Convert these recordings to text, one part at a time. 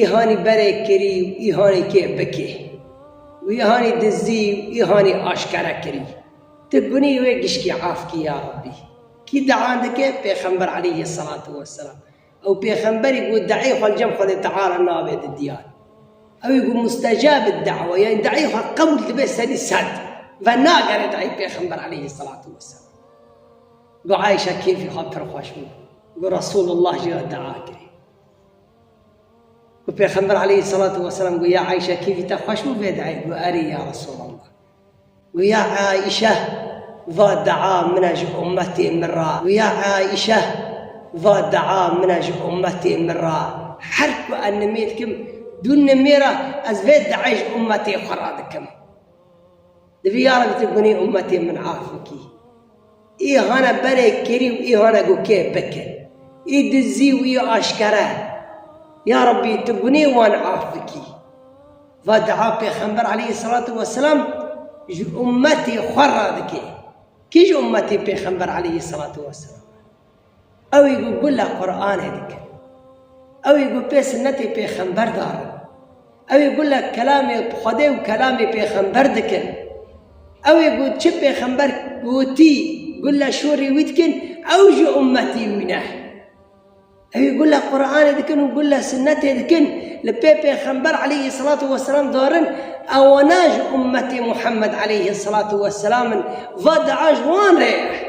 Îhanî berê kirî û îhanî kê bikê. Wî îhanî dizdî û îhanî aşkere kirî. Ti gunî wê gişkî af kî ya Rabbî. Kî dea dike pêxember aleyhî selatû weselam. Ew pêxemberî ku deeyê xwe li cem Xwedê Teala nabe di diyar. Ewî ku mustecab ed dewa yanî deeyê xwe qebûl dibe sedî sed. Venagere deeyê pêxember aleyhî selatû weselam. Got Ayîşe kêfî xwe pir xweş bû. Got Resûlullah jî re dea kirî. Û Pêxember aleyhî selatu weselam got, Ya Ayşe kêfî te xweş bû vê diayê? Got, Erê ya Resûlallah. Got, Ya Ayşe va dia min e ji ummetê min re. Got, Ya Ayşe va dia min e ji ummetê min re. Her ku ez nimê dikim, du nimêra ez vê diayê ji ummetê xwe re dikim. Divê ya Rebbi tu gunê ummetê min af bikî. Ê hane berê kerî û ê hane ku kê bike. Ê dizî û ê aşkere. Ya Rabbî tu gunê wan af bikî. Va dua Pêxember aleyhîsselatu weselam ji ummetê xwe re dike. Kî ji ummetê Pêxember aleyhîsselatu weselam e? Ew ê ku bila Quranê dikin, ew ê ku pê sunnetê pêxember dar in, ew ê ku bila kelamê Xwedê û kelamê pêxember dikin, ew ê ku çi pêxember gotî ku bila şorê wî dikin ew jî ummetî wî ne. Ew ê ku bila Quranê dikin û ku bila sunnetê dikin li pê pêxember aleyhî selatû weselam dar in ewana ji ummetê Muhammed aleyhî selatû weselam in va dia ji wan re ye.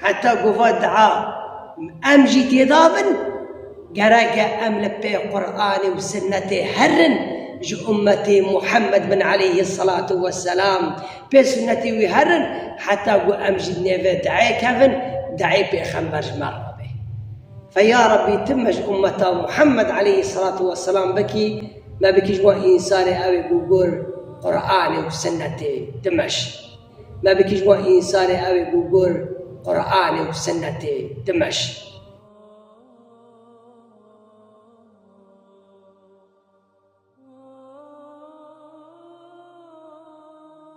Heta ku va dua em jî têda bin, gerek e em li pê Quranê û Sinnetê herin, ji ummetê Muhammed bin aleyhî selatû weselam pê sunnetê wî herin heta ku em jî di nêvê duayê kevin, duayê pêxember ji me re be. Fe ya Rabbî tu me ji ummeta Muhammed aleyhî selatû weselam bikî, me bikî ji wan însanê ew ê ku gor Quranê û Sinnetê dimeşin. Me bi kî ji bo însanê ew ê ku gur Quranê û Sinnetê dimeşî?